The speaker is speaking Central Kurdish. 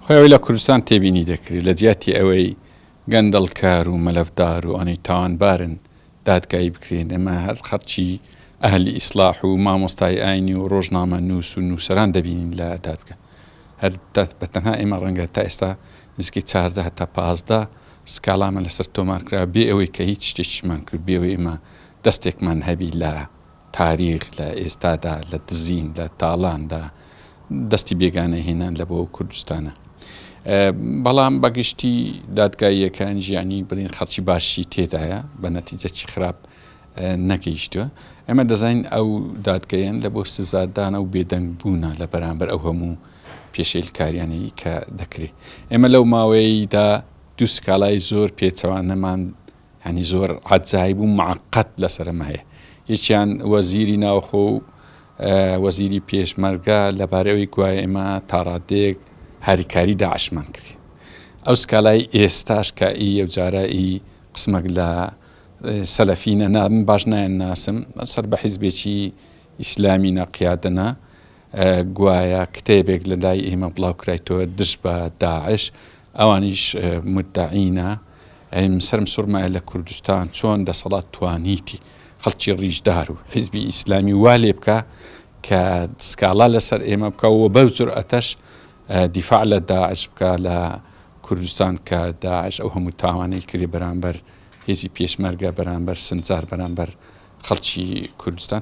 خۆی ئەوەی لە کوردستان تێبینی دەکرێت، لە جیاتی ئەوەی گەندەڵکار و مەلەفدار و ئەوانەی تاوانبارن دادگایی بکرێن، ئێمە هەر خەڵکی ئەهلی ئیسڵاح و مامۆستای ئاینی و ڕۆژنامەنووس و نووسەران دەبینین لە دادگە. هەر بە تەنها ئێمە ڕەنگە تا ئێستا نزیکەی چاردە هەتا پازدە سکاڵامان لەسەر تۆمار کرا، بێ ئەوەی کە هیچ شتێکیشمان کرد، بێ ئەوەی ئێمە دەستێکمان هەبی لە تاریخ لە ئێستادا لە دزین لە تاڵاندا دەستی بێگانە هێنان لە بۆ کوردستانە بەڵام بەگشتی دادگاییەکان ژیانی بڵین خەڵکی باشی تێدایە بە نەتیجەکی خراپ نەگەیشتوە ئەمە دەزانین ئەو دادگەیان لە بۆ سزادانە و بێدەنگ بوونە لە بەرامبەر ئەو هەموو پێشێلکاریانی کە دەکرێت ئێمە لەو ماوەیەیدا دوو سکاڵای زۆر پێچەوانەمان یانی زۆر عەجایب و معقد لەسەرم هەیە یەکیان وەزیری ناوخۆ و وەزیری پێشمەرگە لەبارەی ئەوی گوایە ئێمە تاڕادێک هاریکاری داعشمان کرد ئەو سکالای ئێستاش کە ئی یەوجارە ئی قسمەک لە سەلەفینە نام باش نایان ناسم سەر بە حیزبێکی ئیسلامی نەقیادەنا گوایە کتێبێک لە لای ئێمە بڵاو کرایتەوە دژ بە داعش ئەوانیش مدعینە ئەیم سرم سوڕمایە لە کوردستان چۆن دەسەڵات توانیتی خەڵکی ڕیژدار و حیزبی ئیسلامی وا لێ بکە کە سکاڵا لەسەر ئێمە بکە و بەو جورئەتەش دیفاع لە داعش بکە لە کوردستان کە داعش ئەو هەموو تاوانەی کردی بەرامبەر هێزی پێشمەرگە بەرامبەر سنجار بەرامبەر خەڵکی کوردستان